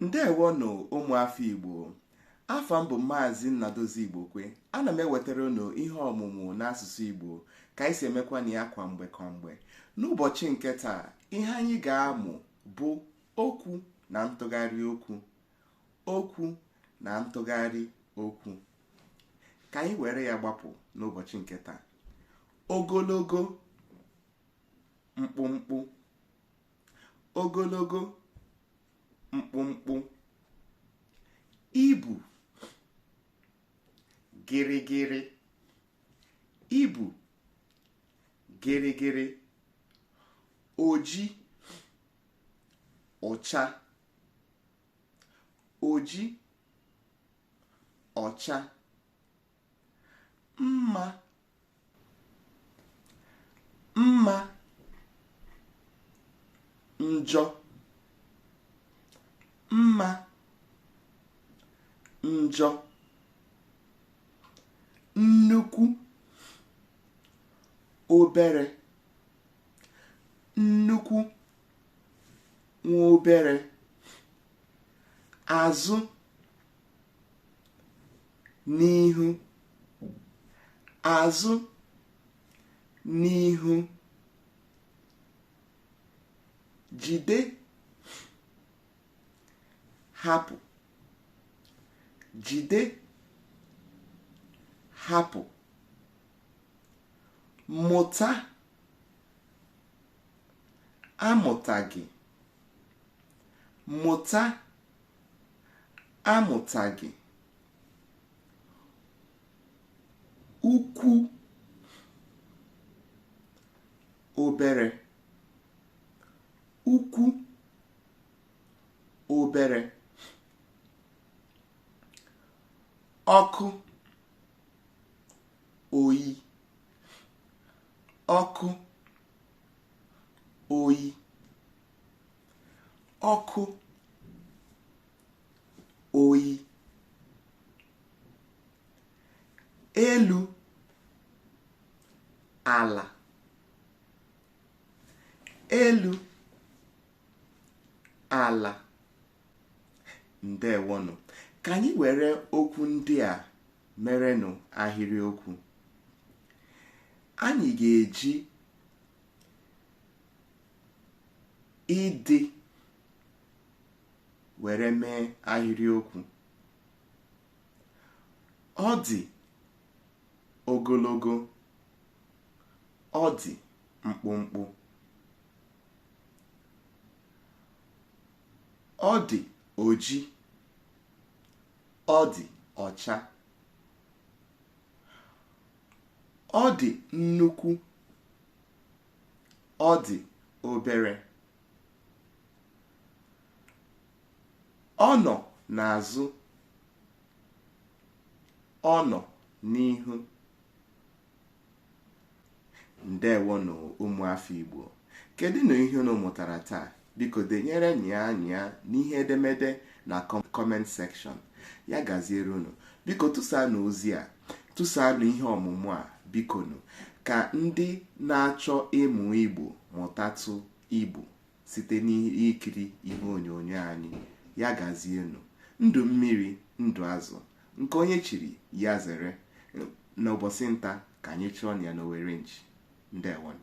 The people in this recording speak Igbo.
ndewonụ ụmụafọ igbo afa m bụ maazị nnadozie igbokwe ana m ewetara unu ihe ọmụmụ n'asụsụ igbo ka anyị si emekwa na ya kwa mgbe kwa mgbe n'ụbọchị nke taa ihe anyị ga-amụ bụ okwu na ntụgharị okwu okwu na ntụgharị okwu ka anyị were ya gbapụ n'ụbọchị nke taa ogologo mkpụmkpụ ogologo mkpụmkpụ ibu gịrịgịrị ibu gịrịgịrị oji ọcha oji ọcha mma mma njọ mma njọ nnukwu obere nnukwu nwa obere azụ n'ihu azụ n'ihu jide hapụ jide hapụ mụta amụtaghị mụta amụtaghị ukwu obere ukwu obere ọkụ oyi ọkụ oyi ọkụ oyi elu ala elu ala ndewonụ ka anyị were okwu ndị a merenụ ahịrịokwu anyị ga-eji ịdị were mee ahịrịokwu ọ dị ogologo ọ dị mkpụmkpụ ọ dị oji ọ dị ọcha ọ dị nnukwu ọ dị obere ọ nọ n'azụ ọ nọ n'ihu ndewonụ ụmụafọ Igbo kedụnụ ihe unu mụtara taa Biko denyerenụ anyị ya n'ihe edemede na comment section. Ya gaziere unu. Biko tụsaanụ ozi a, tụsaanụ ihe ọmụmụ a bikonu ka ndị na-achọ ịmụ Igbo mụtatụ Igbo site n'ikiri ihe onyonyo anyị. Ya gazienụ. Ndụ mmiri, ndụ azụ. Nke onye chiri, ya zere. N'ụbọchị nta ka anyị chụọnụ ya n'owere nchi. Ndewonụ.